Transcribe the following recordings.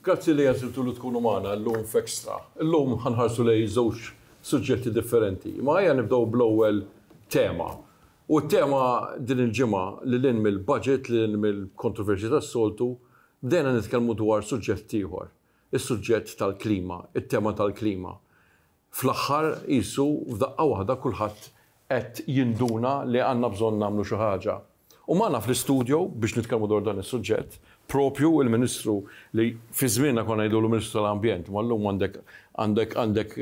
Grazzi li għażiltu li tkunu magħna llum f'Extra. Illum ħa nħarsu lejn żewġ suġġetti differenti, imma ejja nibdew bl-ewwel tema. U t-tema din il-ġimgħa, lil hinn mill-budget, lil hinn mill-kontroversji tas-soltu, bdejna nitkellmu dwar suġġett ieħor, is-suġġett tal-klima, it-tema tal-klima. Fl-aħħar qisu f'daqqa waħda kulħadd qed jinduna li għandna bżonn nagħmlu xi ħaġa. U magħna fl-istudio biex nitkellmu dwar dan is-suġġett, proprju il-Ministru li fi żmienna konna ngħidulu Ministru tal-Ambjent, imma llum għandek għandek għandek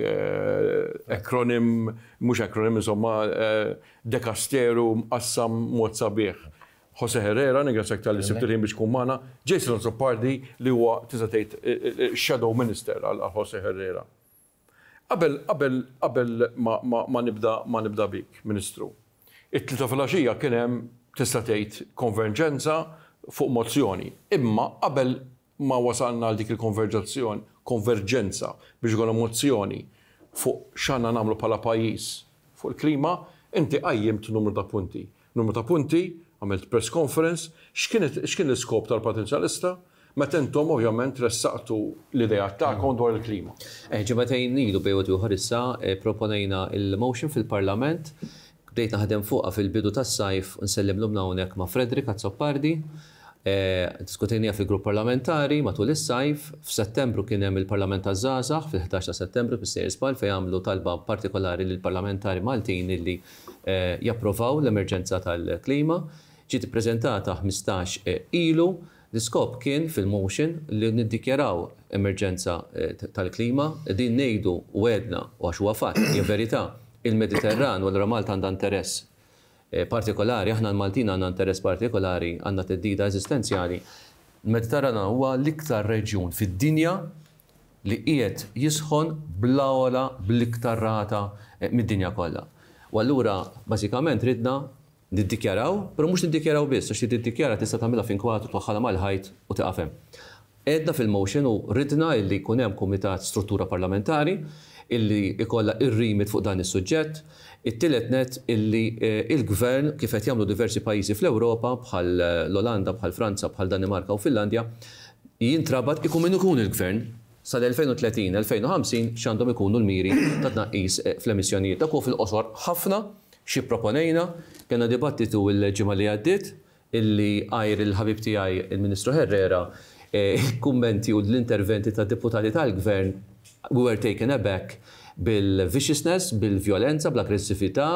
acronym, mhux acronym insomma dekasteru mqassam mod sabiħ. Jose Herrera, ningrazzjak talli sibt il-ħin biex tkun magħna. Jason Azzopardi li huwa tista' tgħid shadow minister għal Jose Herrera. Qabel, qabel, qabel ma, ma, ma nibda, ma nibda bik, Ministru. It-Tlieta filgħaxija kien hemm, tista' tgħid, konverġenza fuq mozzjoni. Imma qabel ma wasalna għal dik il-konverġazzjon, konverġenza biex ikollna mozzjoni fuq x'għandna nagħmlu bħala pajjiż fuq il-klima, inti qajjimt numru ta' punti. Numru ta' punti, għamilt press conference, x'kienet x'kien l-iskop tal-Partit Nazzjonalista meta intom ovvjament ressaqtu l-ideat tagħkom dwar il-klima? Ġimagħtejn ilu bejn wieħed u ieħor issa pproponejna l-motion fil-Parlament, bdejt naħdem fuqha fil-bidu tas-sajf, nsellem lilna hawnhekk ma' Frederick Azzopardi, ddiskutejniha fil-Grupp Parlamentari matul is-sajf, f'Settembru kien hemm il-Parlament taż-Żgħażagħ fil-ħdax ta' Settembru fis-Sejers Ball fejn għamlu talba partikolari lill-parlamentari Maltin illi japprovaw l-emerġenza tal-klima ġiet ippreżentata ħmistax ilu. L-iskop kien fil-motion li niddikjaraw emerġenza tal-klima. Din ngħidu u għedna u għax huwa fatt, hija verità, il-Mediterran u allura Malta għandha interess partikolari, aħna l-Maltin għandna interess partikolari, għandna theddida eżistenzjali. Il-Mediterran huwa l-iktar reġjun fid-dinja li qiegħed jisħon bl-agħla bl-iktar rata mid-dinja kollha. U allura bażikament ridna niddikjaraw, però mhux niddikjaraw biss, għax li tiddikjara tista' tagħmilha f'inkwatt u twaħħalha mal-ħajt u tieqaf hemm. Għedna fil-motion u ridna illi jkun hemm kumitat struttura parlamentari illi jkollha ir-remit fuq dan is-suġġett, It-tielet nett, illi l-Gvern, kif qed jagħmlu diversi pajjiżi fl-Ewropa, bħal l-Olanda, bħal Franza, bħal Danimarka u Finlandja, jintrabat, ikun min ikun il-Gvern, sal-2030, 2050, x'għandhom ikunu l-miri ta' tnaqqis fl-emissjonijiet. Dak huwa fil-qosor ħafna x'ipproponejna. Kellna dibattitu l-ġimgħa li għaddiet illi għajr il-ħabib tiegħi il-Ministru Herrera, il-kummenti u l-interventi tad-Deputati tal-Gvern we were taken aback bil-viciousness, bil-vjolenza, bl-aggressività,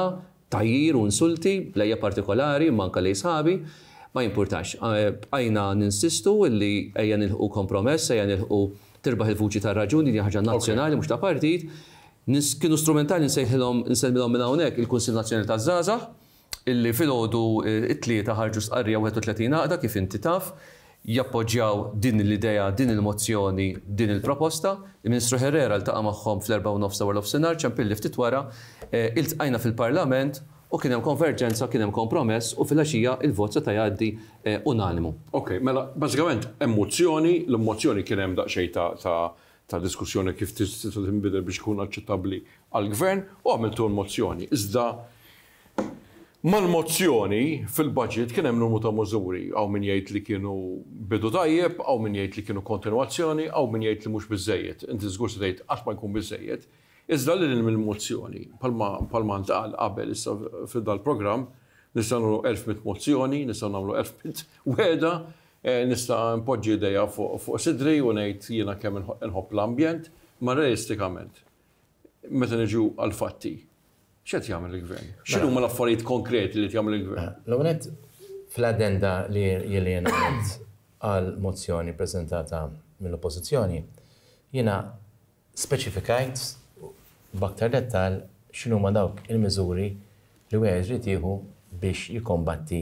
tgħajjir u insulti lejja partikolari imma anke lejn sħabi. Ma jimpurtax. Bqajna ninsistu illi ejja nilħqu kompromess, ejja nilħqu tirbaħ il-vuċi tar-raġun, din hija ħaġa nazzjonali mhux ta' partit. Kienu strumentali nsejħilhom, insellmilhom minn hawnhekk il-Kunsill Nazzjonali taż-Żgħażagħ. illi filgħodu t-Tlieta ħarġu stqarrija 31 għaqda, kif inti taf, jappoġġjaw din l-idea, din il-mozzjoni, din il-proposta. Il-Ministru Herrera ltaqa' magħhom fl-erbgħa u nofs ta' warnofsinhar, ċempilli ftit wara, iltqajna fil-Parlament u kien hemm konverġenza, kien hemm kompromess u filgħaxija l-vot seta' jgħaddi unanimu. Ok, mela bażikament hemm mozzjoni, l-mozzjoni kien hemm daqsxejn ta' ta' diskussjoni kif tista' tinbidel biex ikun aċċettabbli għall-Gvern u għamiltu l-mozzjoni. Iżda mal-mozzjoni fil-Budget kien hemm numru ta' mużuri. Hawn min jgħid li kienu bidu tajjeb, hawn min jgħid li kienu kontinwazzjoni, hawn min jgħid li mhux biżżejjed. Inti żgur se tgħid qatt ma jkun biżżejjed. Iżda lil hinn mill-mozzjoni, bħalma ntqal qabel issa f'dal-programm, nistgħu nagħmlu elf mitt mozzjoni, nistgħu nagħmlu elf mitt wegħda, Nista' npoġġi idejja fuq sidri u ngħid jiena kemm inħobb l-ambjent, imma realistikament, meta niġu għall-fatti, x'qed jagħmel il-Gvern? X'inhuma l-affarijiet konkreti li qed jagħmel il-Gvern? L-ewwel nett, fl-addenda li jiena għamilt għall-mozzjoni ppreżentata mill-Oppożizzjoni, jiena speċifikajt b'aktar dettall x'inhuma dawk il-miżuri li wieħed irid jieħu biex jikkombatti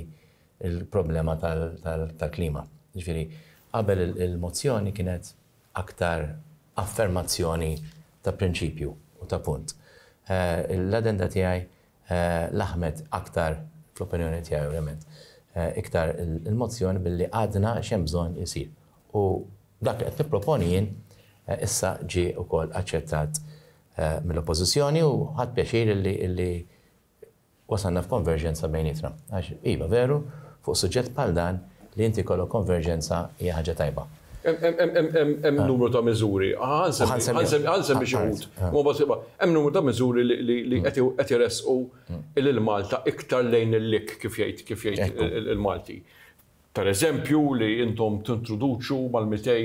il-problema tal-klima. Jiġifieri, qabel il-mozzjoni kienet aktar affermazzjoni ta' prinċipju u ta' punt. L-addenda tiegħi laħmet aktar, fl-opinjoni tiegħi ovvjament, iktar il-mozzjoni billi għadna x'hemm bżonn isir. U dak li qed nipproponi jien issa ġie wkoll aċċettat mill-Oppożizzjoni u ħadt pjaċir illi wasalna f'konverġenza bejnietna. Għax, iva, veru, fuq suġġett bħal dan, li inti jkollok konverġenza hija ħaġa tajba. Hemm numru ta' miżuri, ħa nsemmi xi wħud, imma b'hasba, hemm numru ta' miżuri li qed iressqu lil Malta iktar lejn il-lik, kif jgħid kif jgħid il-Malti. Pereżempju, li intom tintroduċu mal-200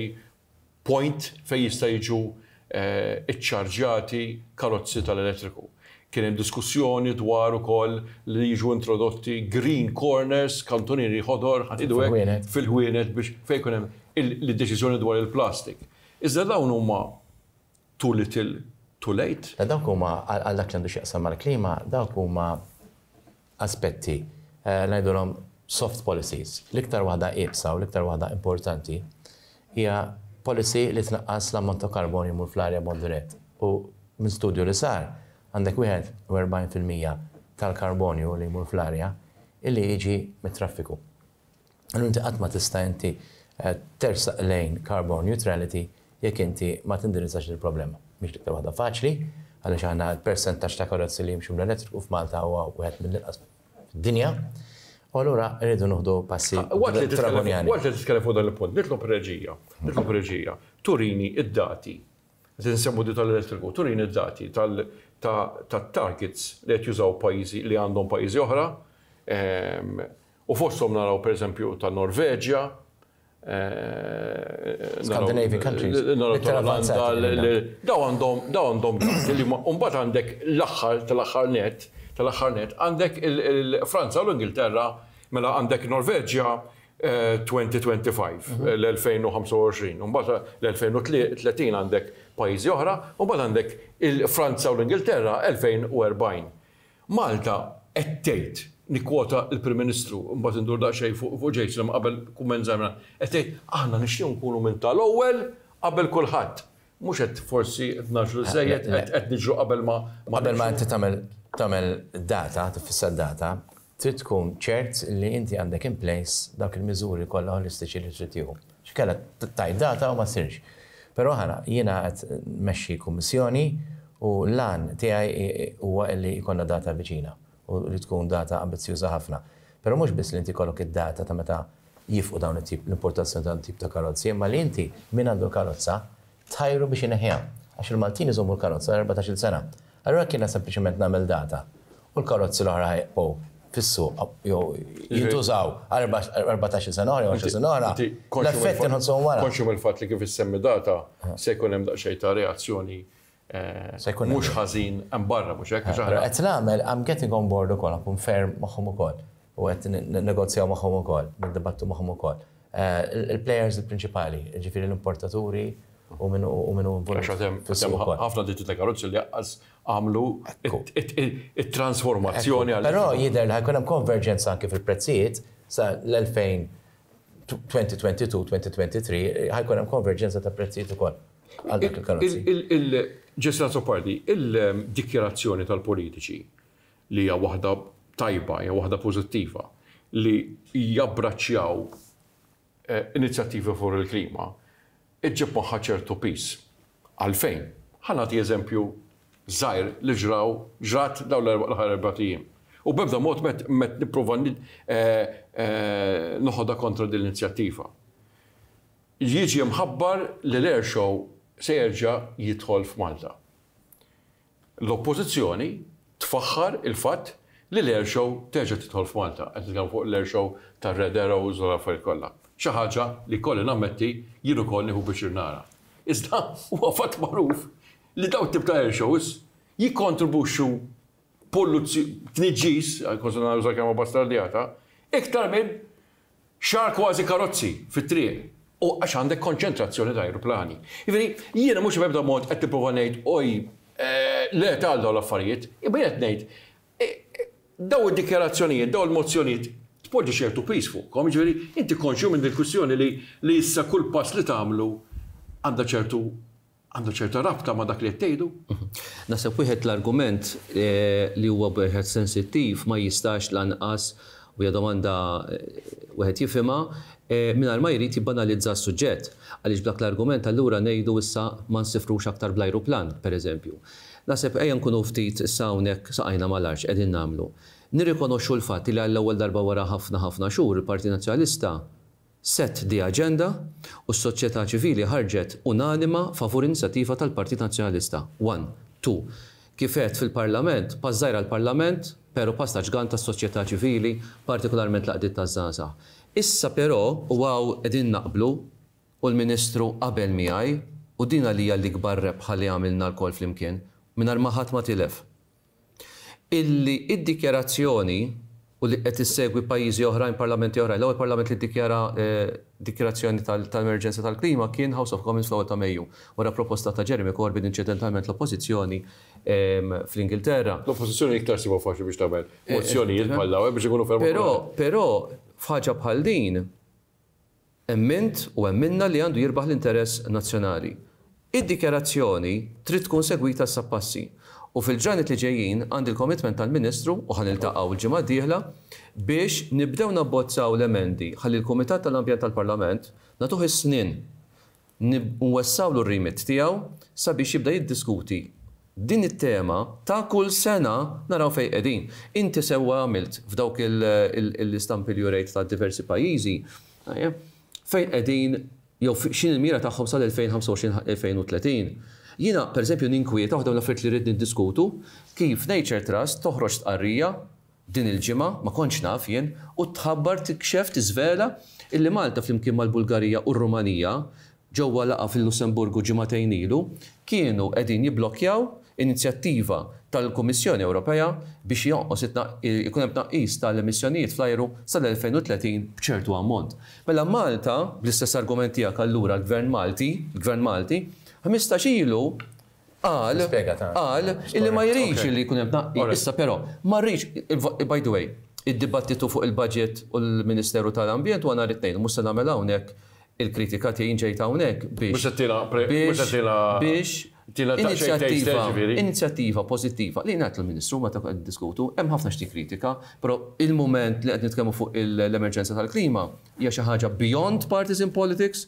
point fejn jista' jiġu ċċarġjati karozzi tal-elettriku. Kien hemm diskussjoni dwar ukoll li jiġu introdotti green corners, kantunieri ħodor, ħa nieħdu hekk, fil-ħwienet biex fejn jkun hemm l-deċiżjoni dwar il-plastik. Iżda dawn huma Too little, too late? Mela dawk huma, għal dak li għandu x'jaqsam mal-klima, dawk huma aspetti, ngħidulhom soft policies. L-iktar waħda iebsa u l-iktar waħda importanti hija policy li tnaqqas l-ammont ta' karbonju li jmur fl-arja b'mod dirett. U minn studju li sar, għandek 41 fil-mija tal-karbonju li jmur fl-arja illi jiġi mit-traffiku. Allura inti qatt ma tista' inti tersaq lejn carbon neutrality jekk inti ma tindirizzax il-problema. Mhix l-iktar waħda faċli, għaliex aħna l-persentaġġ ta' karozzi li jimxu bl-elettriku f'Malta huwa wieħed mill-inqas fid-dinja, u allura rridu nieħdu passi dragoniani. Waqt li titkellem fuq dan il-punt, nitlob reġija, nitlob reġija turini d-dati, qed insemmu din tal-elettriku, turini d-dati tat-targets li qed jużaw pajjiżi li għandhom pajjiżi oħra, U fosthom naraw pereżempju tan-Norveġja, Scandinavian countries. Naraw tal-Olanda, daw għandhom daw għandhom gas li huma u mbagħad għandek l-aħħar tal-aħħar nett, tal-aħħar nett għandek il-Franza u l-Ingilterra, mela għandek in-Norveġja 2025, l-2025, u mbagħad l-2030 għandek pajjiżi oħra, u mbagħad għandek il-Franza u l-Ingilterra 2040. Malta qed tgħid, nikkwota l-Prim Ministru, imbagħad indur daqsxejn fuq Jason imma qabel kumment żgħir minn għand, qed tgħid, aħna nixtiequ nkunu minn tal-ewwel qabel kulħadd. Mhux qed forsi qed ngħaġġlu żżejjed, qed niġru qabel ma nimxu? Qabel ma inti tagħmel tagħmel data, tiffissa data, trid tkun ċert li inti għandek in place dawk il-miżuri kollha ħolistiċi li trid tieħu. X'kellha tgħid data u ma ssirx. Però aħna, jiena qed nmexxi kummissjoni u l-għan tiegħi huwa li jkollna data viċina u li tkun data ambizzjuża ħafna. Però mhux biss li inti jkollok id-data ta' meta jifqu dawn it-tip, l-importazzjoni ta' dawn it-tip ta' karozzi, imma li inti min għandu l-karozza tħajru biex ineħħiha. Għax il-Maltin iżommu l-karozza għal erbatax-il sena. Allura kien sempliċement nagħmel data u l-karozzi l-oħra ħajibqgħu fis-suq jew jintużaw għal erbatax-il sena oħra jew għaxar snin oħra, l-effetti nħossuhom wara. Konxju mill-fatt li kif issemmi data se jkun hemm daqsxejn ta' reazzjoni mhux ħażin hemm barra, mhux hekk? Però qed nagħmel, I'm getting on board ukoll, nkun ferm magħhom ukoll u qed ninnegozjaw magħhom ukoll, niddibattu magħhom ukoll. Il-plejers il-prinċipali, jiġifieri l-importaturi u min hu involut. Għax għad hemm ħafna ditti ta' karozzi li lanqas għamlu it-transformazzjoni għal. Però jidher li ħa jkun hemm konverġenza anke fil-prezzijiet sa l-2022-2023 ħa jkun hemm konverġenza ta' prezzijiet ukoll għal dik il-karozzi. Just as a party, il-dikjarazzjoni tal-politiċi li hija waħda tajba, hija waħda pożittiva, li jabbraċċjaw inizjattivi favur il-klima, iġġib magħha ċertu piż. Għalfejn? Ħa nagħti eżempju żgħir li ġra u ġrat dawn l-aħħar erbat ijiem. U b'ebda mod m'qed m'qed nipprova noħodha kontra din l-inizjattiva. Jiġi mħabbar li l-air show se jerġa' jidħol f'Malta. L-Oppożizzjoni tfaħħar il-fatt li l-Air Show terġa' tidħol f'Malta, qed nitkellmu fuq l-Air Show tar-Red Arrows u l-affarijiet kollha, xi ħaġa li jkolli nammetti jien ukoll nieħu piċir nara. Iżda huwa fatt magħruf li dawn it-tip ta' Air Shows jikkontribwixxu polluzzjoni, tniġġis, kważi nara nuża l-kelma bastardjata, iktar minn Xahar kważi karozzi fit-triq u għax għandek konċentrazzjoni ta' ajruplani. Jiġifieri, jiena mhux b'ebda mod qed nipprova ngħid oj, le ta' għal dawn l-affarijiet, imma jien qed ngħid, dawn id-dikjarazzjonijiet, dawn il-mozzjonijiet tpoġġi ċertu piż fuqkom, jiġifieri inti konxju minn din il-kwistjoni li issa kull pass li tagħmlu għandha ċertu Għandu ċerta rabta ma' dak li qed tgħidu. Naħseb wieħed l-argument li huwa wieħed sensittiv ma jistax lanqas, u hija domanda wieħed jifhimha, mingħajr ma jrid jibbanalizza s-suġġett. Għaliex b'dak l-argument allura ngħidu issa ma nsifrux aktar bl-ajruplan, pereżempju. Naħseb ejja nkunu ftit issa hawnhekk saqajna mal-art x'qegħdin nagħmlu. Nirrikonoxxu l-fatt li għall-ewwel darba wara ħafna ħafna xhur il-Partit Nazzjonalista, Set the agenda u s-soċjetà ċivili ħarġet unanima favur inizjattiva tal-Partit Nazzjonalista. One, two, Kif għedt fil-Parlament, pass żgħir għall-Parlament, pero' pass ta' ġgant għas-soċjetà ċivili, partikolarment l-għaqdiet taż-żgħażagħ. Issa pero', u hawn qegħdin naqblu, u l-Ministru qabel miegħi, u din għalija l-ikbar rebħa li għamilna lkoll flimkien, mingħajr ma ħadd ma tilef. illi d-dikjarazzjoni, u li qed issegwi pajjiżi oħrajn, parlamenti oħrajn, l-ewwel parlament li ddikjara dikjarazzjoni tal-emerġenza tal-klima kien House of Commons fl-ewwel ta' Mejju, wara proposta ta' Jeremy Corbyn, inċidentalment l-Oppożizzjoni fl-Ingilterra. L-Oppożizzjoni iktar ssibha faċli biex tagħmel mozzjonijiet bħal dawn, biex inkunu ferm. Però, però, f'ħaġa bħal din, Emmint u emminna li għandu jirbaħ l-interess nazzjonali. Id-dikjarazzjoni trid tkun segwita issa b'passi. U fil-ġranet li ġejjin għandi l-commitment tal-Ministru, u ħa niltaqgħu l-ġimgħa d-dieħla, biex nibdew nabbozzaw l-emendi ħalli l-Kumitat tal-Ambjent tal-Parlament nagħtuh is-snien. nwessgħulu r-remit tiegħu sabiex jibda jiddiskuti din it-tema ta' kull sena naraw fejn qegħdin. Inti sewwa għamilt f'dawk l-istampi li urejt ta' diversi pajjiżi, fejn qegħdin jew x'inhi l-mira tagħhom sal-2025-2030. Jiena, pereżempju, ninkwieta, waħda mill-affarijiet li rrid niddiskutu, kif Nature Trust toħroġ stqarrija Din il-ġimgħa, ma kontx naf jien, u tħabbar, tikxef, tiżvela, illi Malta flimkien mal-Bulgarija u r-Rumanija, ġewwa laqgħa fil-Lussemburgu ġimagħtejn ilu, kienu qegħdin jibblokkjaw inizjattiva tal-Kummissjoni Ewropea biex jonqos ikun hemm tnaqqis tal-emissjonijiet fl-ajru sal-2030 b'ċertu ammont. Mela Malta, bl-istess argument tiegħek allura l-Gvern Malti, il-Gvern Malti, ħmistax ilu qal, qal, illi ma jridx illi jkun hemm tnaqqis. Issa però, ma rridx, by the way, id-dibattitu fuq il-budget u l-Ministeru ta' l-Ambjent huwa nhar it-Tnejn, mhux se nagħmel hawnhekk il-kritika tiegħi, jien ġejt hawnhekk biex, biex, biex inizjattiva, inizjattiva pożittiva, li ngħid lill-Ministru meta qed niddiskutu, hemm ħafna xi tikkritika, però il-mument li qed nitkellmu fuq l-emerġenza tal-klima hija xi ħaġa beyond partisan politics,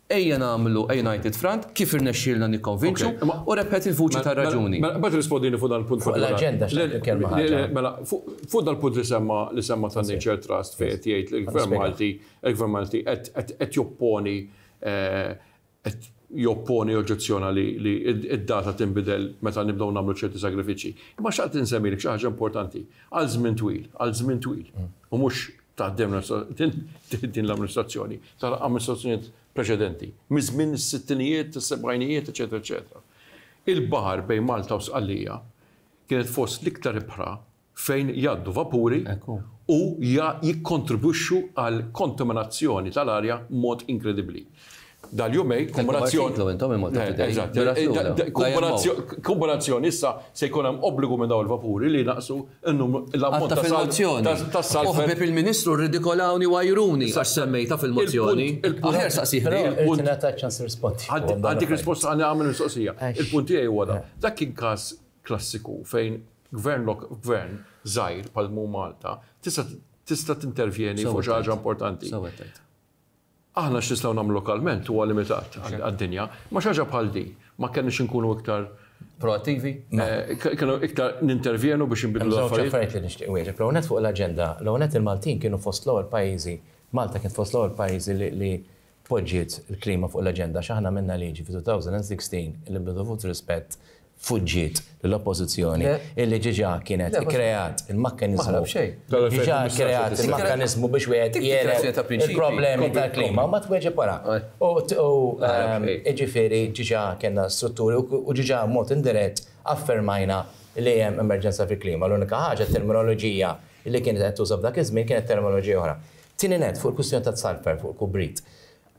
Ejja nagħmlu a united front, kif irnexxielna nikkonvinċu, u rebħet il-vuċi tar-raġuni. Mela, imbagħad irrispondini fuq dan il-punt partikolari. Fuq l-aġenda xtaqt nitkellmu ħaġa. Mela, fuq dal-punt li semma, li semma tan-Nature Trust fejn qed jgħid li l-Gvern Malti, il-Gvern Malti qed, qed, qed jopponi, qed jopponi, joġġezzjona li, li d-data tinbidel meta nibdew nagħmlu ċerti sagrifiċċji. Imma xtaqt insemmilek xi ħaġa importanti. Għal żmien twil, għal żmien twil, u mhux taħt din l-amministrazzjoni, taħt amministrazzjonijiet preċedenti, miż-żmien is-sittinijiet, is-sebgħinijiet, eċċetera, eċċetera. Il-baħar bejn Malta u Sqallija kienet fost l-iktar ibħra fejn jgħaddu vapuri u jikkontribwixxu għall-kontaminazzjoni tal-arja b'mod inkredibbli. Dal-jumejn, kumulazzjoni. Titlu intom il-Malta Today. Eżatt. Kumulazzjoni issa se jkun hemm obbligu minn dawn il-vapuri li jnaqqsu l-ammont ta' saltwater. Għadd ta' fil-mozzjoni. Oħbib il-Ministru rridikolawni u għajruni għax semmejtha fil-mozzjoni. Aħjar staqsih lei. Irid ingħata ċans nirrispondi. Għaddik risposta ħalli nagħmel mistoqsija. Il-punt tiegħi huwa dan. Dak kien każ klassiku fejn gvern gvern żgħir bħal mhu Malta tista' tintervjeni fuq xi ħaġa importanti. Aħna x'nistgħu nagħmlu lokalment huwa limitat għad-dinja, imma xi ħaġa bħal din ma kellniex inkunu iktar proattivi? Kellna iktar nintervjenu biex inbidlu l-affarijiet? Hemm żewġ affarijiet li nixtieq inwieġeb. L-ewwel nett fuq l-aġenda, l-ewwel nett il-Maltin kienu fost l-ewwel pajjiżi, Malta kienet fost l-ewwel pajjiżi li poġġiet il-klima fuq l-aġenda għax aħna għamilna liġi fi 2016 li nbidlu f'rispett fuġġiet l-Oppożizzjoni illi diġà kienet ikkreat il-mekkaniżmu. Diġà kkreat il-mekkaniżmu biex wieħed jegħleb il-problemi tal-klima u ma tweġib wara. U jiġifieri diġà kellna strutturi u diġà b'mod indirett affermajna li hemm emerġenza fil-klima. L-unika ħaġa t-terminoloġija li kienet qed tintuża f'dak iż-żmien kienet terminoloġija oħra. Tieni nett, fuq il-kwistjoni tat-sulfur, fuq il-kubrit.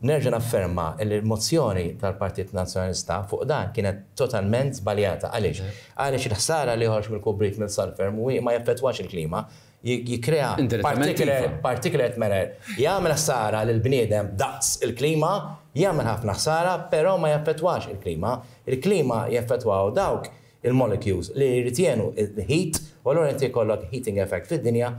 Nerġa' nafferma li l-mozzjoni tal-Partit Nazzjonalista fuq dan kienet totalment żbaljata. Għaliex? Għaliex il-ħsara li joħroġ mill-kubrit minn sulphur mhuwiex ma jaffettwax il-klima. Jikkrea particlate matter. Jagħmel ħsara lill-bniedem daqs il-klima, jagħmel ħafna ħsara, però ma jaffettwax il-klima. Il-klima jaffettwaw dawk il-molecules li jirritjenu l-heat u allura inti jkollok heating effect fid-dinja,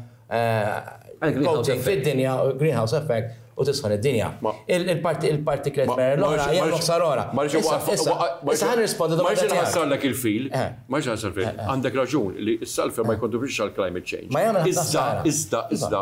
coating fid-dinja, greenhouse effect u tisħan id-dinja. Il-partiklet mera l-oħra hija l-oħsar l-oħra. Ma rridx inħassarlek. Ma rridx inħassarlek il-fil. Ma rridx inħassarlek il-fil. Għandek raġun li s-sulphur ma jikkontribwixxix għall-climate change. Iżda, iżda, iżda,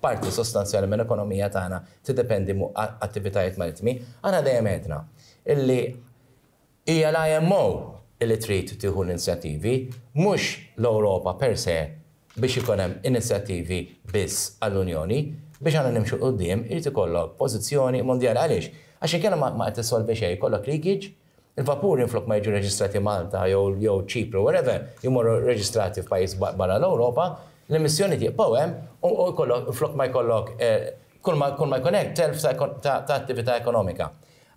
Parti sostanzjali mill-ekonomija tagħna tiddependi muq attivitajiet marittimi. Aħna dejjem għedna illi hija l-IMO illi trid tieħu l-inizjattivi, mhux l-Ewropa per se biex ikun hemm inizjattivi biss għall-Unjoni. Biex aħna nimxu 'l quddiem irid ikollok pożizzjoni mondjali. Għaliex? Għax inkella ma qed issolvi xejn, ikollok leakage, Il-vapuri minflok ma jiġu reġistrati Malta jew jew Ċipru wherever jmorru reġistrati f'pajjiż barra l-Ewropa, l-emissjonijiet jiqbgħu hemm u u jkollok minflok ma jkollok kull ma kull ma jkun hekk telf ta' ta' ta' attività ekonomika.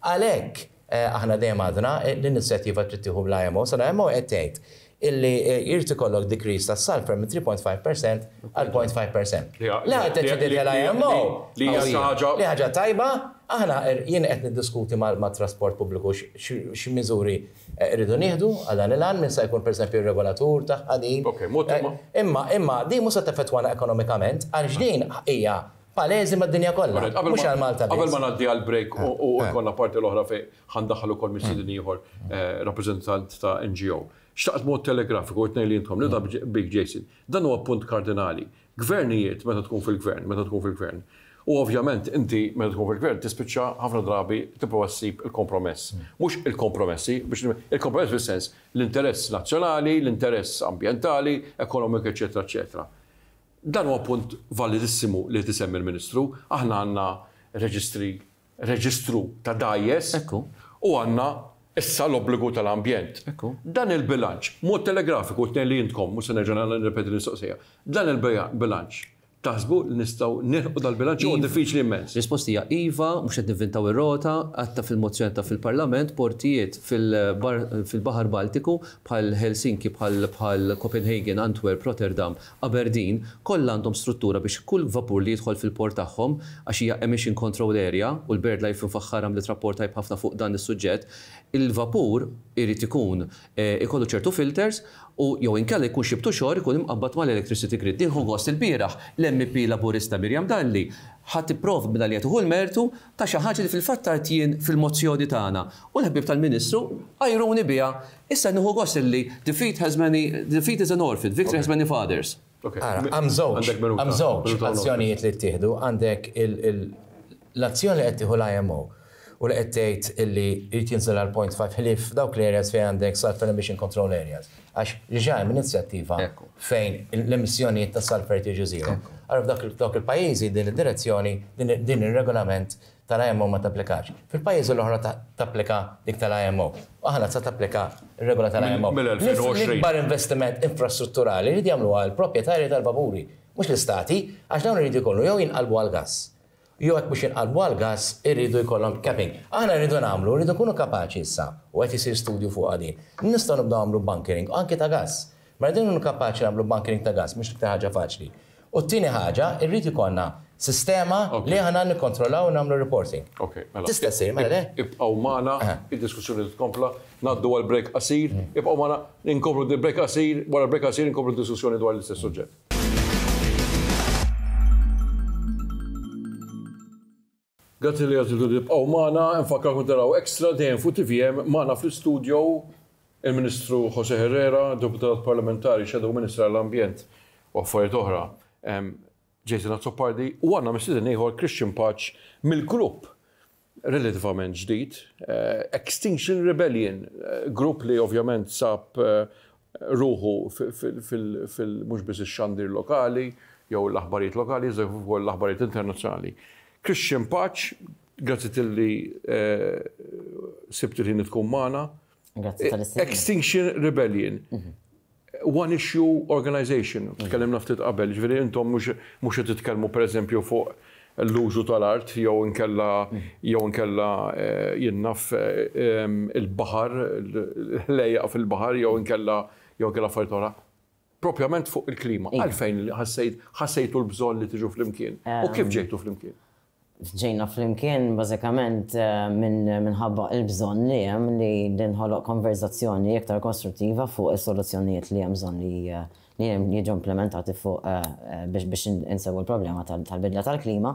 Għalhekk aħna dejjem għadna l-inizjattiva trid tieħu bl-IMO, sa l-IMO qed tgħid illi jrid ikollok decrease tas-sulphur minn 3.5 per cent għal 0.5 per cent. L-aħħar ddeċidiet l-IMO li hija xi ħaġa li ħaġa tajba, aħna jien qed niddiskuti mat-trasport pubbliku x'miżuri rridu nieħdu għal dan il-għan, min se jkun pereżempju r-regolatur tagħha din. Imma imma din mhux se teffettwana ekonomikament għaliex din hija Pależi mad-dinja kollha, mhux għal Malta biss. Qabel ma ngħaddi għall-break u jkollna parti l-oħra fejn ħa ndaħħal ukoll mistieden ieħor rappreżentant ta' NGO, xtaqt b'mod telegrafiku u t-tnejn li intkom, nibda bik Jason, dan huwa punt kardinali. Gvernijiet meta tkun fil-gvern, meta tkun fil-gvern, u ovvjament inti meta tkun fil-gvern tispiċċa ħafna drabi tipprova ssib il-kompromess. Mhux il-kompromessi, biex il-kompromess fis-sens l-interess nazzjonali, l-interess ambjentali, ekonomiku eċċetera eċċetera. Dan huwa punt validissimu li qed isemmi l-Ministru. Aħna għandna reġistri, reġistru ta' dgħajjes u għandna issa l-obbligu tal-ambjent. Dan il-bilanċ, b'mod telegrafiku qed ngħid li intkom, mhux se nerġa' nirrepeti l-mistoqsija, dan il-bilanċ taħsbu li nistgħu nilħqu dal-bilanċ jew huwa diffiċli immens? Risposta hija iva, mhux qed nivvintaw ir-rota, għedtha fil-mozzjoni għedtha fil-Parlament, portijiet fil-Baħar Baltiku bħal Helsinki, bħal Copenhagen, Antwerp, Rotterdam, Aberdeen, kollha għandhom struttura biex kull vapur li jidħol fil-port tagħhom, għax hija emission control area, u l-BirdLife Faħħar għamlet rapport tajjeb ħafna fuq dan is-suġġett, il-vapur irid ikun ikollu ċertu filters u jew inkella jkun xi btuxor ikun imqabbad mal-electricity grid. Nieħu gost ilbieraħ l-MEP Laburista Miriam Dalli ħa tipprov mingħajr li hija tieħu l-mertu ta' xi ħaġa li fil-fatt għidt jien fil-mozzjoni tagħna u l-ħbieb tal-Ministru għajruni biha. Issa nieħu gost li defeat has many, defeat is an orphan, victory has many fathers. Ara, hemm żewġ, hemm żewġ azzjonijiet li ttieħdu, għandek l-azzjoni li qed tieħu l-IMO u li qed tgħid li jrid jinżel għal point five ħlief f'dawk l-areas fejn għandek sulphur emission control areas. Għax li ġej m'inizjattiva fejn l-emissjonijiet ta' sulphate jiġu zero. Allura f'dawk il-pajjiżi din id-direzzjoni, din ir-regolament tal-IMO ma tapplikax. Fil-pajjiżi l-oħra tapplika dik tal-IMO. U aħna sa tapplika r-regola tal-IMO. L-ikbar investiment infrastrutturali jridu jagħmluha l-proprjetarji tal-vapuri, mhux l-istati, għax dawn iridu jkunu jew jinqalbu għall-gass. Jew jekk mhux jinqalbu għall-gass iridu jkollhom capping. Aħna rridu nagħmlu, rridu nkunu kapaċi issa, u qed isir studju fuqha din, li nistgħu nibdew nagħmlu bunkering anki ta' gass. Mela rridu nkunu kapaċi nagħmlu bunkering ta' gass, mhux l-iktar ħaġa faċli. U t-tieni ħaġa, irrid ikollna sistema li aħna nikkontrollaw u nagħmlu reporting. Tista' ssir, mela le? Ibqgħu magħna, id-diskussjoni trid tkompla. Ngħaddu għal break qasir. Ibqgħu magħna, inkomplu d-break qasir, wara l-break qasir inkomplu d-diskussjoni dwar l-istess suġġett. Grazzi li għażiltu tibqgħu magħna, infakkarkom taraw Extra dejjem fuq tvm magħna fl-istudjo il-Ministru Jose Herrera, Deputat Parlamentari Shadow Minister għall-Ambjent u Affarijiet Oħra, Jason Azzopardi, u għandna mistieden ieħor Christian Paċ mill-grupp relativament ġdid, Extinction Rebellion, grupp li ovvjament sab ruħu fil mhux biss ix-xandir lokali jew l-aħbarijiet lokali iżda kif ukoll l-aħbarijiet internazzjonali. Christian Paċ, grazzi tilli sibt il-ħin li tkun magħna. Grazzi tal-istedina. Extinction Rebellion. one issue organization, tkellimna ftit qabel, jiġifieri intom mhux mhux qed titkellmu pereżempju fuq l-użu tal-art jew inkella jew inkella jien naf il-baħar, l-għelejjaq fil-baħar jew inkella jew inkella affarijiet oħra. Propjament fuq il-klima, għalfejn ħassejt ħassejtu l-bżonn li tiġu flimkien u kif ġejtu flimkien? Ġejna flimkien bażikament minħabba l-bżonn li hemm li tinħoloq konverżazzjoni iktar kostruttiva fuq is-soluzzjonijiet li hemm bżonn li jiġu implimentati fuq biex insewwu l-problema tal-bidla tal-klima.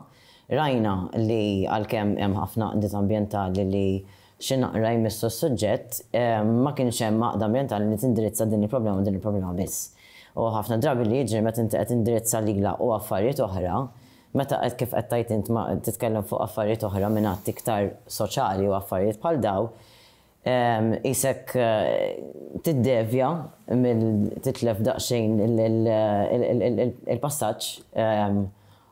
Rajna li għalkemm hemm ħafna għaqdiet ambjentali li xi naqra jmissu s-suġġett, ma kienx hemm għaqda ambjentali li tindirizza din il-problema u din il-problema biss. U ħafna drabi li jiġri meta inti qed tindirizza lilha u affarijiet oħra, Meta qed kif qed tgħid int ma titkellem fuq affarijiet oħra minn att iktar soċjali u affarijiet bħal daw, qisek tiddevja mill titlef daqsxejn il-passaġġ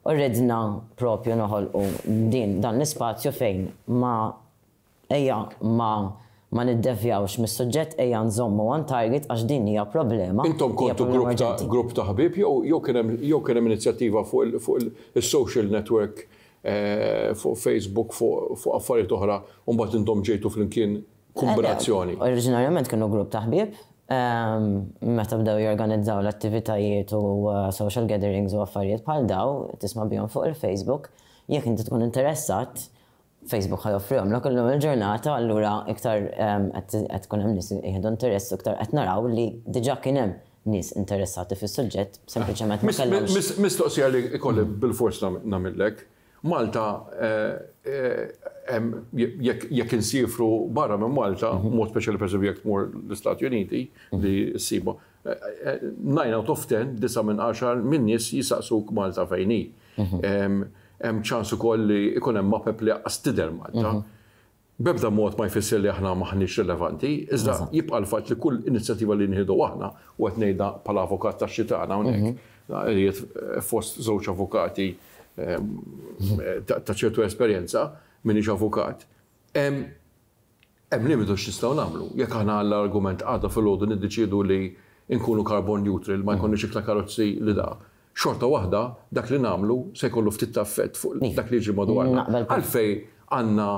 u ridna propju noħolqu din dan l-ispazju fejn ma Ejja ma ma niddevjawx mis-suġġett ejja nżommu on target għax din hija problema, hija problema urġenti. Intom kontu grupp ta' grupp ta' ħbieb jew jew kien hemm jew kien hemm inizjattiva fuq il fuq il is-social network fuq Facebook fuq fuq affarijiet oħra u mbagħad intom ġejtu flimkien kombinazzjoni? Oriġinarjament kienu grupp ta' ħbieb meta bdew jorganizzaw l-attivitajiet u social gatherings u affarijiet bħal dawn tisma' bihom fuq il-Facebook jekk inti tkun interessat Facebook ħa joffrihomlok illum il-ġurnata, allura iktar qed tkun hemm nies li jieħdu interess u iktar qed naraw li diġà kien hemm nies interessati fis-suġġett, sempliċement ma kellhomx. Mistoqsija li jkolli bilfors nagħmillek, Malta jekk insiefru barra minn Malta, b'mod speċjali pereżempju jekk tmur l-Istati Uniti li ssibha, Nine out of ten, disgħa minn għaxar, min-nies jisaqsuk Malta fejn hi. Hemm ċans ukoll li jkun hemm mapep li laqqas tidher Malta. B'ebda mod ma jfisser li aħna m'aħniex rilevanti, iżda jibqa' l-fatt li kull inizjattiva li nieħdu aħna, u qed ngħidha bħala avukat tax-xitgħan hawnhekk, qiegħed fost żewġ avukati ta' ċertu esperjenza, m'iniex avukat, Hemm limitu x'nistgħu nagħmlu. Jekk aħna għal argument għada filgħodu niddeċiedu li nkunu carbon neutral, li ma jkollniex iktar karozzi li da, xorta waħda dak li nagħmlu se jkollu ftit ta' effett fuq dak li jiġri madwarna. Għalfejn għandna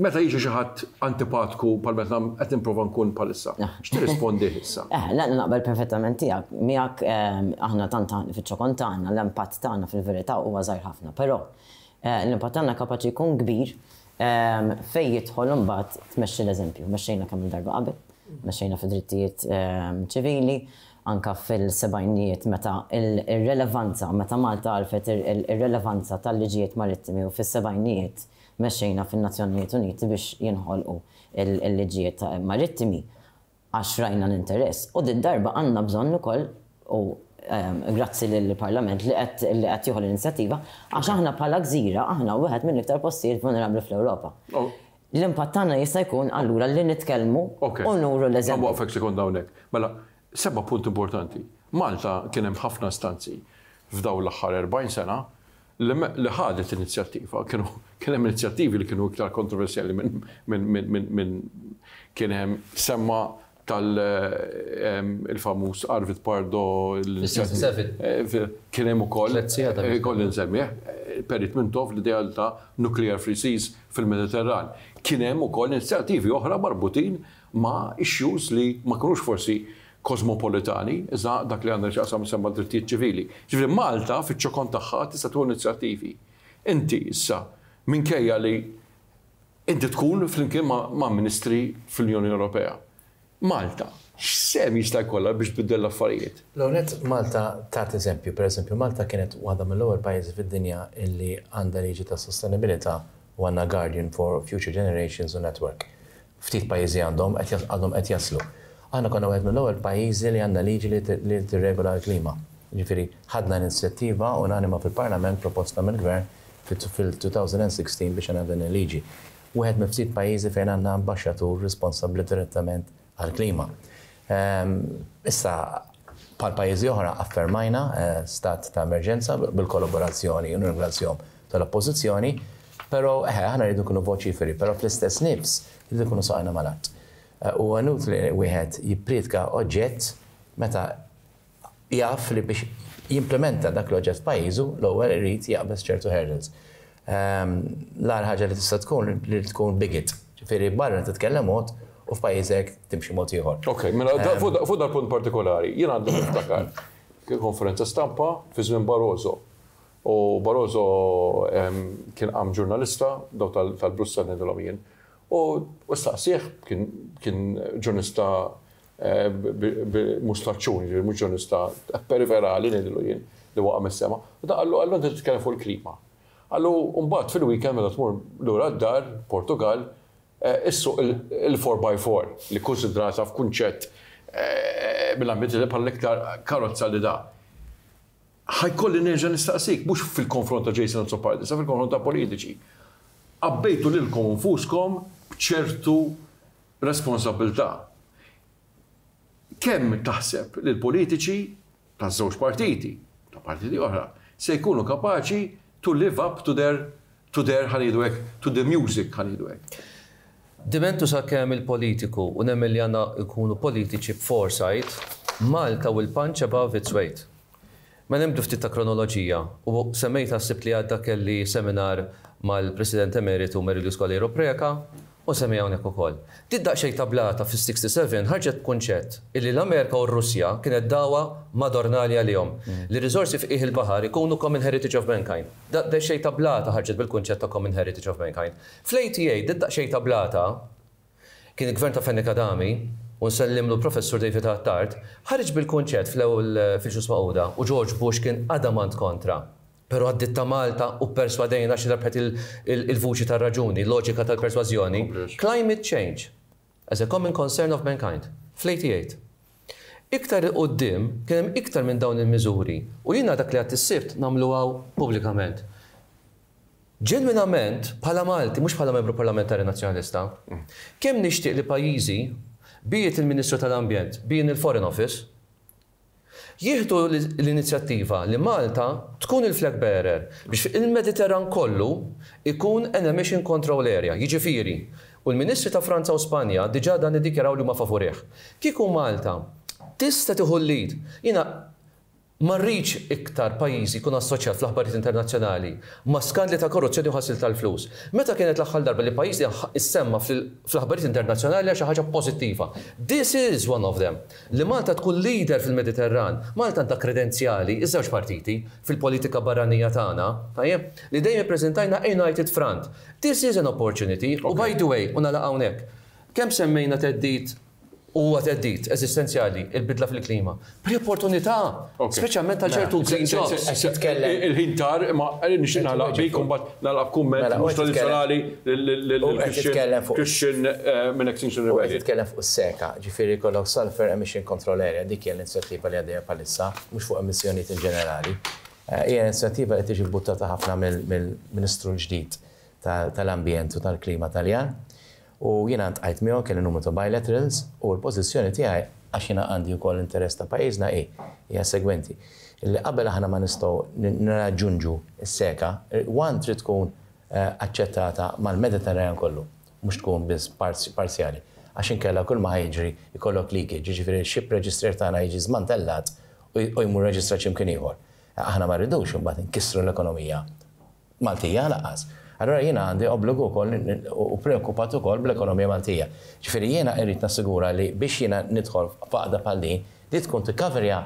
meta jiġi xi ħadd antipatku bħal meta qed nipprova nkun bħalissa, x'tirrispondih issa? Eħe, le naqbel perfettament tiegħek miegħek aħna tant fiċ-ċokon tagħna l-impatt tagħna fil-verità huwa żgħir ħafna. Però l-impatt tagħna kapaċi jkun kbir fejn jidħol imbagħad tmexxi l-eżempju. Mexxejna kemm-il darba qabel, mexxejna fid-drittijiet ċivili, anke fil-sebgħinijiet meta r-relevanza, meta Malta għarfet ir-relevanza tal-liġijiet marittimi u fis-sebgħinijiet mexxejna fin-Nazzjonijiet Uniti biex jinħolqu l-liġijiet marittimi. għax rajna l-interess u did-darba għandna bżonn ukoll, u grazzi lill-Parlament li qed li qed jieħu l-inizjattiva, għax aħna bħala gżira aħna wieħed mill-iktar postijiet vulnerabbli fl-Ewropa. L-impatt tagħna jista' jkun allura li nitkellmu u nuru l-eżempju. Okej, ħanwaqqfek sekonda hawnhekk. Mela, semma punt importanti. Malta kien hemm ħafna istanzi f'dawn l-aħħar 40 sena li ħadet inizjattiva. Kienu kien hemm inizjattivi li kienu iktar kontroversjali minn kien hemm semma tal-famuż Arvid Pardo kien hemm ukoll kolli nsemmih Perit Mintoff l-ideal ta' nuclear free seas fil-Mediterran. Kien hemm ukoll inizjattivi oħra marbutin ma' issues li ma jkunux forsi kosmopolitani, iżda dak li għandha x'taqsam issa mad-drittijiet ċivili. Jiġifieri Malta fiċ-ċokon tagħha tista' tieħu inizjattivi. Inti issa minkejja li inti tkun flimkien ma' ministri fl-Unjoni Ewropea, Malta x'sehem jista' jkollha biex tbiddel l-affarijiet? L-ewwel nett Malta tat eżempju. Pereżempju Malta kienet waħda mill-ewwel pajjiżi fid-dinja li għandha liġi tas-sostenibilità u għandna Guardian for Future Generations u Network. Ftit pajjiżi għandhom, għadhom qed jaslu. Aħna konna wieħed mill-ewwel pajjiżi li għandna liġi li tirregola l-klima. Jiġifieri ħadna inizjattiva unanima fil-Parlament proposta mill-Gvern fil-2016 biex għandna din il-liġi. Wieħed mill-ftit pajjiżi fejn għandna ambaxxatur responsabbli direttament għall-klima. Issa bħal pajjiżi oħra affermajna stat ta' emerġenza bil-kollaborazzjoni, u nirringrazzjahom tal-Oppożizzjoni, però eħe, aħna rridu nkunu voċiferi, però fl-istess nifs irridu nkunu saqajna mal-art. Huwa inutli wieħed jipprietka oġġett meta jaf li biex jimplimenta dak l-oġġett f'pajjiżu l-ewwel irid jaqbeż ċertu hurdles. L-agħar ħaġa li tista' tkun li tkun bigot, ġifieri barra titkellem mod u f'pajjiżek timxi mod ieħor. Ok, mela fuq dal-punt partikolari, jien għadni niftakar kien konferenza stampa fi żmien Barroso U Barroso kien qam ġurnalista, dawk tal-Brussell ngħidilhom jien, u staqsieh, kien ġurnista mhux tlaċċun, jiġifieri mhux ġurnista periferali ngħidillu jien, li waqa' mis-sema, u dan qallu, qallu inti qed titkellem fuq il-klima. Qallu u mbagħad fil-weekend meta tmur lura d-dar, Portugall, issuq il-four by four, li kkunsidrata f'kunċett mill-ambjent bħala l-iktar karozza li da. Ħa jkolli nerġa' nistaqsik, mhux fil-konfront ta' Jason Azzopardi, iżda fil-konfront ta' politiċi. Għabbejtu lilkom infuskom b'ċertu responsabbiltà. Kemm taħseb li l-politiċi taż-żewġ partiti, ta' partiti oħra, se jkunu kapaċi to live up to their To there, ħa ngħidu hekk, to the music, ħa ngħidu hekk. Dimentu sakemm il-politiku, u nemmen li għandna nkunu politiċi b'foresight, Malta will punch above its weight. Mela nibdu ftit ta' kronoloġija, u semmejtha s-Sibt li għadda kelli seminar mal-President Emeritu Merilusz Coleiro Preca, U semmi hawnhekk ukoll. Din daqsxejn tablata fis-67 ħarġet b'kunċett illi l-Amerika u r-Russja kienet dagħwa madornali għalihom, li r-riżorsi f'qiegħ il-baħar ikunu common heritage of mankind. Daqsxejn tablata ħarġet bil-kunċett ta' common heritage of mankind. Fl-ATA, din daqsxejn tablata, kien il-Gvern ta' Fenech Adami, u nsellimlu l-Professur David Attard, ħareġ bil-kunċett fl-ewwel fil-Ġnus Magħquda u George Bush kien adamant kontra. Però għaddiet ta' Malta u pperswadejna għax rebħet il-vuċi tar-raġuni, loġika tal-persważjoni, climate change, as a common concern of mankind, fl-88. Iktar 'il quddiem kien hemm iktar minn dawn il-miżuri u jiena dak li għedt is-Sibt nagħmlu hawn pubblikament. Ġenwinament, bħala Malti, mhux bħala Membru Parlamentari Nazzjonalista, kemm nixtieq li pajjiżi, be it il-Ministru tal-Ambjent, be in il-Foreign Office, Jieħdu l-inizjattiva li Malta tkun il-flag bearer biex il-Mediterran kollu jkun an emission control area, jiġifieri, u l-Ministri ta' Franza u Spanja diġà dan iddikjaraw li huma favurih. Kieku Malta tista' tieħu l-lead, jiena ma rridx iktar pajjiżi jkun assoċjat fl-aħbarijiet internazzjonali ma' skandli ta' korruzzjoni u ħasil tal-flus. Meta kienet l-aħħar darba li pajjiżna issemma fl-aħbarijiet internazzjonali għal xi ħaġa pożittiva? This is one of them. Li Malta tkun leader fil-Mediterran. Malta għandha kredenzjali, iż-żewġ partiti, fil-politika barranija tagħna, tajjeb, li dejjem ippreżentajna a united front. This is an opportunity, u by the way, u nagħlaq hawnhekk, kemm semmejna theddid, u huwa theddid eżistenzjali, il-bidla fil-klima, bħala opportunità, speċjalment għal ċertu green jobs. Il-ħin tar, imma nixtieq nagħlaq bik u mbagħad. Nagħlaq b'kumment mhux tradizzjonali lill-Christian minn Extinction Rebellion. U qed titkellem fuq is-SECA, jiġifieri jkollok Sulphur Emission Control Area, dik hija l-inizjattiva li għaddejja bħalissa, mhux fuq emissjonijiet in ġenerali. Hija inizjattiva li tiġi bbuttata ħafna mill-Ministru l-ġdid tal-Ambjent u tal-Klima Taljan. U jiena ltqajt miegħu, kelli numru ta' bilaterals, u l-pożizzjoni tiegħi, għax jiena għandi wkoll interess ta' pajjiżna, hi, hija s-segwenti, li qabel aħna ma nistgħu nirraġġunġu s-SECA, one trid tkun aċċettata mal-Mediterranean kollu, mhux tkun biss parzjali, għax inkella kull ma ħa jiġri jkollok leakage, jiġifieri x-ship register tagħna jiġi żmantellat u jmur jirreġistra x'imkien ieħor. Aħna ma rridux imbagħad inkissru l-ekonomija Maltija lanqas. Allura jiena għandi obbligu wkoll u preokkupat ukoll bl-ekonomija Maltija. Ġifieri jiena irrid nassigura li biex jiena nidħol f'għaqda bħal din, li tkun tikkaverja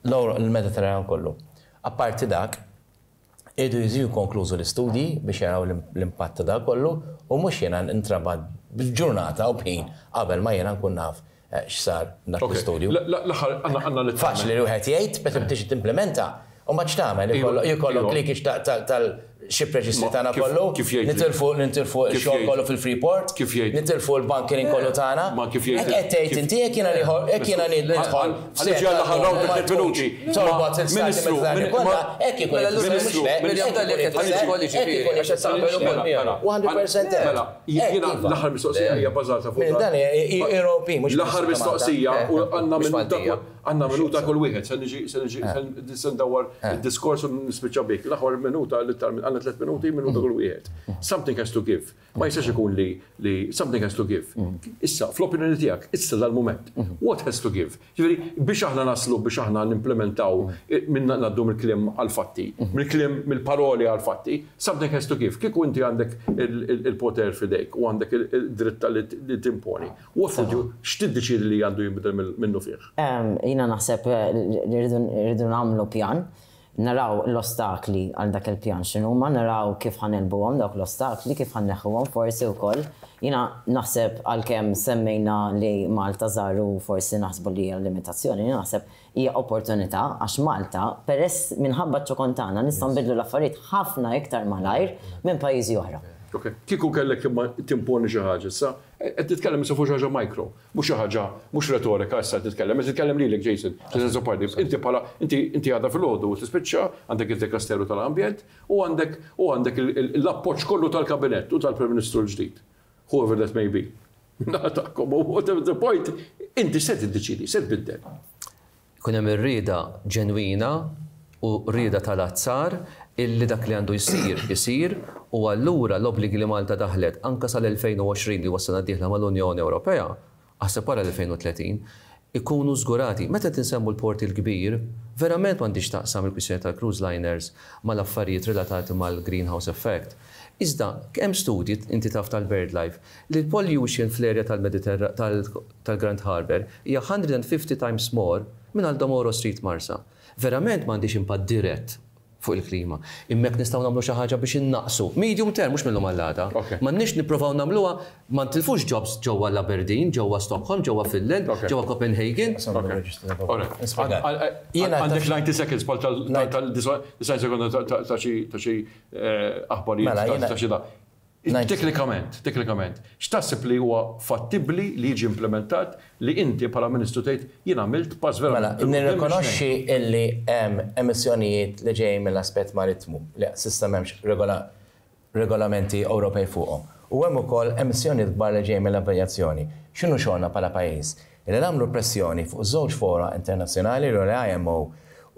l-Mediterran kollu. Apparti dak, iridu jiġu konklużu l-istudji biex jaraw l-impatt ta' dak kollu u mhux jiena nintrabat b'ġurnata u b'ħin qabel ma jiena nkun naf X'sar dak l-istudju? Faċli li wieħed jgħid, meta tiġi timplimenta, u mbagħad x'tagħmel? Ikollok leakage tal-ship registry tagħna kollu, nitilfu x-xogħol kollu fil-Freeport, nitilfu l-bunkering kollu tagħna. Hekk qed tgħid inti, hekk jiena nidħol f'torbot il-Stati Mediterranji kollha, hekk ikun, mhux le, hekk ikun. Hekk ikun, hekk ikun. 100% hekk. Jiena l-aħħar mistoqsija hija bbażata fuq dan. L-aħħar mistoqsija u għandna minuta kull għandna minuta kull wieħed se niġi se niġi se ndawwar id-diskors u nispiċċa bih. L-aħħar minuta l-iktar għandna tliet minuti minuta kull wieħed. Something has to give. Ma jistax ikun li li something has to give. Issa, fl-opinjoni tiegħek, issa dal-mument, what has to give? Jiġifieri, biex aħna naslu, biex aħna nimplimentaw minn ngħaddu mill-kliem għall-fatti, mill-kliem, mill-paroli għall-fatti, something has to give. Kieku inti għandek il-poter f'idejk u għandek id-dritt li timponi, what would you, x'tiddeċiedi li għandu jinbidel minnufih? Jiena naħseb li rridu nagħmlu pjan. Naraw l-ostakli għal dak il-pjan x'inhuma, naraw kif ħa negħlbuhom dawk l-ostakli, kif ħa nneħħuhom forsi wkoll. Jiena naħseb għalkemm semmejna li Malta żgħar u forsi naħsbu li hija limitazzjoni, jiena naħseb hija opportunità għax Malta peress minħabba ċ-ċokon tagħna nistgħu nbiddlu l-affarijiet ħafna iktar malajr minn pajjiżi oħra. Ok. Kieku kellek timponi xi ħaġa issa, qed titkellem issa fuq xi ħaġa micro, Mhux xi ħaġa, mhux retorika issa qed nitkellem, qed nitkellem lilek Jason, fis-sens oppost. Inti bħala, inti, inti għada filgħodu tispiċċa, għandek id-Dekasteru tal-Ambjent u għandek, u għandek l-appoġġ kollu tal-Kabinett u tal-Prim Ministru l-ġdid, whoever that may be, min-naħa tagħkom, u whatever the point, inti se tiddeċiedi, se tbiddel. Ikun hemm ir-rieda ġenwina u rieda tal-azzar illi dak li għandu jsir isir u allura l-obbligi li Malta daħlet anke sal-2020 li huwa s-sena d-dieħla mal-Unjoni Ewropea, aħseb wara l-2030, ikunu żgurati. Meta qed insemmu l-Port il-Kbir, verament m'għandhiex x'taqsam il-kwistjoni tal-cruise liners mal-affarijiet relatati mal-greenhouse effect. Iżda, hemm studji, inti taf tal-BirdLife, li l-pollution fl-area tal-Grand Harbour hija 150 times more minn Aldomoro Street Marsa. Verament m'għandhiex impatt dirett fuq il-klima. Imma jekk nistgħu nagħmlu xi ħaġa biex innaqqsu, medium term, mhux mill-lum għall-għada, m'għandniex nipprovaw nagħmluha, ma ntilfux jobs ġewwa l-Aberdeen, ġewwa Stockholm, ġewwa Finland, ġewwa Copenhagen. Għandek 90 seconds bħal tal-90 seconds ta' xi aħbarijiet Mela, jiena- ta' xi da. Ngħid- Teknikament, teknikament, x'taħseb li huwa fattibbli li jiġi implementat li inti bħala Ministru tgħid jien għamilt pass Mela, verament il-quddiem biex ngħin. nirrikonoxxi illi hemm emissjonijiet li ġejjin mill-aspett marittmu li s'issa m'hemmx regola- regolamenti Ewropej fuqhom. U hemm ukoll emissjonijiet kbar li ġejjin mill-avjazzjoni. X'inhu xogħolna bħala pajjiż? Billi nagħmlu pressjoni fuq żewġ fora internazzjonali, l-IMO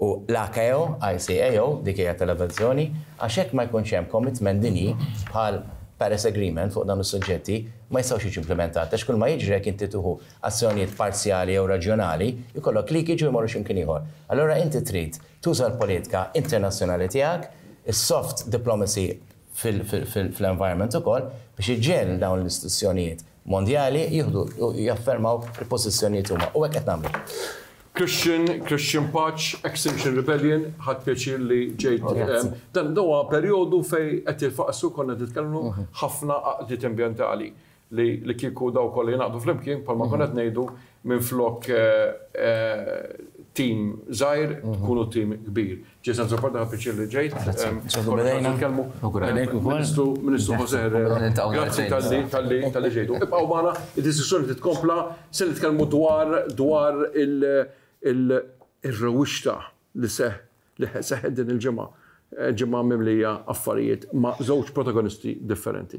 u l-ACAO, ICAO, dik hija tal-avjazzjoni, għax jekk ma jkunx hemm commitment dinji bħal Paris Agreement fuq dawn is-suġġetti, ma jistgħux jiġu implimentati għax kulma jiġri jekk inti tieħu azzjonijiet parzjali jew reġjonali, jkollok leakage u jmorru xi mkien ieħor. Allura inti trid tuża l-politika internazzjonali tiegħek, is-soft diplomacy fil-environment ukoll, biex iġġiegħel dawn l-istituzzjonijiet, Mondjali jieħdu u jaffermaw il-pożizzjonijiet huma u hekk qed nagħmlu. Christian, Christian Paċ, Extinction Rebellion, ħadt pjaċir li ġejt. Dan huwa perjodu fej qed jilfaqsu konna titkellmu mhm. ħafna għaqdiet ambjentali li kieku daw kollha jingħaqdu flimkien bħalma mhm. konna qed ngħidu Minflok tim żgħir, tkunu tim kbir. Ġej San Zoppo, ħadt pjaċir li ġejt. Ministru José Herrera, grazzi talli ġejtu. Ibqgħu magħna, id-diskussjoni trid tkompla. Se nitkellmu dwar ir-rewwixta li seħħet din il-ġimgħa. Ġimgħa mimlija affarijiet ma' żewġ protagonisti differenti.